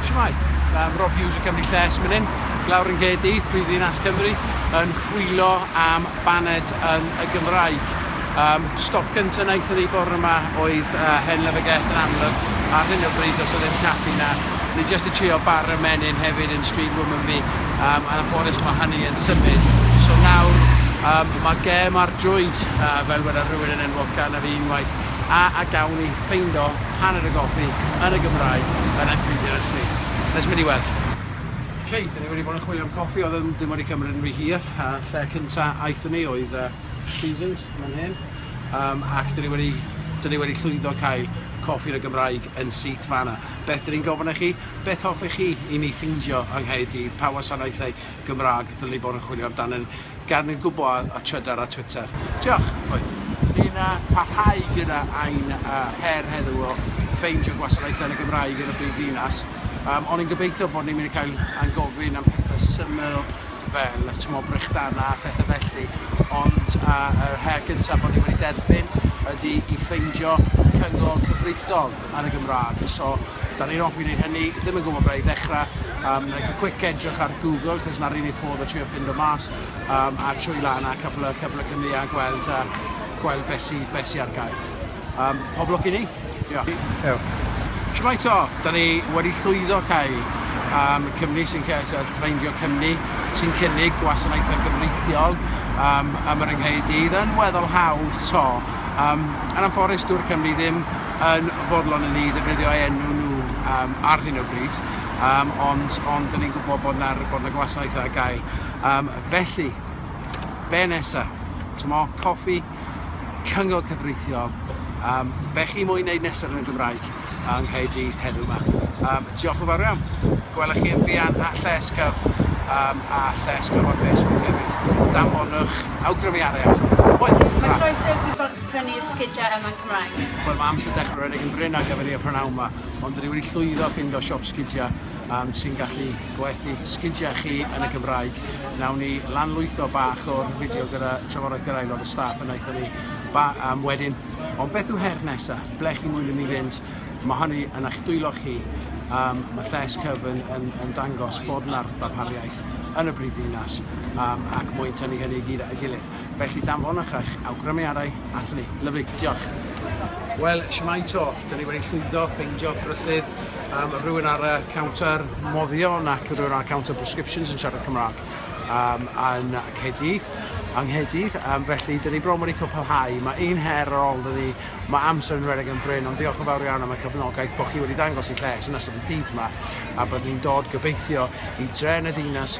Shwmae! Yym Rob Hughes o Cymru Lles myn hyn, lawr yn Nghaerdydd, prif ddinas Cymru, yn chwilo am baned yn y Gymraeg. Um, stop gyntaf wnaethon ni bore yma oedd uh, Hen Lyfrgell yn amlwg. Ar hyn o bryd, os o ddim caffi na, ni jyst i trio bar y menyn hefyd yn Street Woman fi. Um, yn anffodus mae hynny yn symud. So nawr, um, mae gem ar drwyd, uh, fel wedi rhywun yn enwog gan y fi unwaith, a a gawn ni ffeindo hanner y goffi yn y Gymraeg yn anffrindiau ers ni. Let's mynd i weld. Ok, dyn ni wedi bod yn chwilio am coffi, oedd yn ddim wedi cymryd yn rhy hir, a lle cynta aethon ni oedd uh, Seasons, mae'n hyn, um, ac dyn ni wedi, dyn ni wedi llwyddo cael coffi yn y Gymraeg yn syth fanna. Beth dyn ni'n gofyn i chi? Beth hoffech chi i ni ffindio yng Nghaerdydd? Pa wasanaethau Gymraeg dyn ni bod yn chwilio amdano Gad ni gwbo a trydar ar Twitter. Diolch! Hwyl. Ni'n parhau gyda ein her heddiw o ffeindio gwasanaethau yn y Gymraeg yn y brif ddinas, ond ni'n gobeithio bod ni'n mynd i cael ein gofyn am pethau syml fel t'mod brechdanau a phethau felly, ond yr her gyntaf bod ni wedi derbyn ydy i ffeindio cyngor cyfreithiol. yn y Gymraeg. So, da ni'n offi wneud hynny, ddim yn gwybod ble i ddechrau. Um, like a quick edrych ar Google, cos na'r unig ffordd o trio ffindo mas, um, a trwy lan a cwpl o, cwpl o cymni a gweld, uh, gweld besi, besi ar gael. Um, pob lwc i ni. Diolch. Diolch. Shwmai to, da ni wedi llwyddo cael um, cymni sy'n ffeindio cymni sy'n cynnig gwasanaethau cyfreithiol um, am yr yngheid i. Dda'n weddol hawdd to. Um, yn amforus, dŵr Cymru ddim yn fodlon i ni ddefnyddio eu enw nhw um, ar hyn o bryd, um, ond, ond dyn ni'n gwybod bod yna bod na gwasanaethau ar gael. Um, felly, be nesa? Tymo, coffi, cyngor cyfreithiol, um, be chi moyn wneud nesaf yn y Gymraeg yng Nghaerdydd heddiw yma. Um, diolch yn fawr iawn. Gwelwch chi yn fian a lles cyf um, a lles cyf ar Facebook hefyd. Danfonwch awgrymiadau ato. Wel, ta. Mae croeso i chi ffordd prynu'r sgidiau yma Cymraeg. Wel mae amser dechrau rhedeg yn brin ar gyfer i y prynhawn yma, ond dwi wedi llwyddo ffindo siop sgidiau um, sy'n gallu gwerthu sgidiau chi yn y Gymraeg. Nawn ni lanlwytho bach o'r fideo gyda trafodaeth gyda aelod y staff yn aethon ni ba, um, wedyn. Ond beth yw her nesaf? Ble chi mwyn i ni fynd? Mae hynny yn eich dwylo chi. Um, mae lles cyfyn yn, yn dangos bod yna ddarpariaeth yn y brifddinas um, ac mwyn tynnu hynny i gyd at gilydd. Felly danfonwch eich awgrymiadau aton ni. Lyfli. Diolch. Wel, shwmae to. Dyn ni wedi llwyddo ffeindio ffryllydd, um, rhywun ar y counter moddion ac rhywun ar y counter prescriptions yn siarad Cymraeg um, yn Caerdydd yng Nghaerdydd, um, felly dyn ni bron wedi cwpelhau. Mae un her ar ôl dyn ni, mae amser yn redeg yn bryn, ond diolch yn fawr iawn am y cyfnogaeth bod chi wedi dangos i lles yn ystod y dydd yma, a byddwn ni'n dod gobeithio i dren y ddinas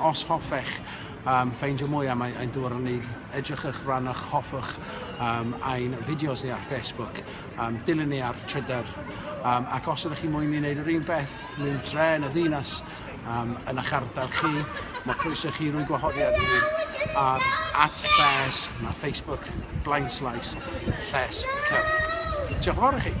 Os hoffech um, ffeindio mwy am ein dŵr yn unig, edrychwch, rannwch, hoffwch um, ein fideos ni ar Facebook, um, dilyn ni ar Twitter, um, ac os ydych chi mwyn i wneud yr un beth mewn dre yn y ddinas um, yn eich ardal chi, mae croeso chi rwy'n gwahoddiad i ni ar at lles na Facebook Blind Slice Lles Cyf. Diolch yn fawr i chi.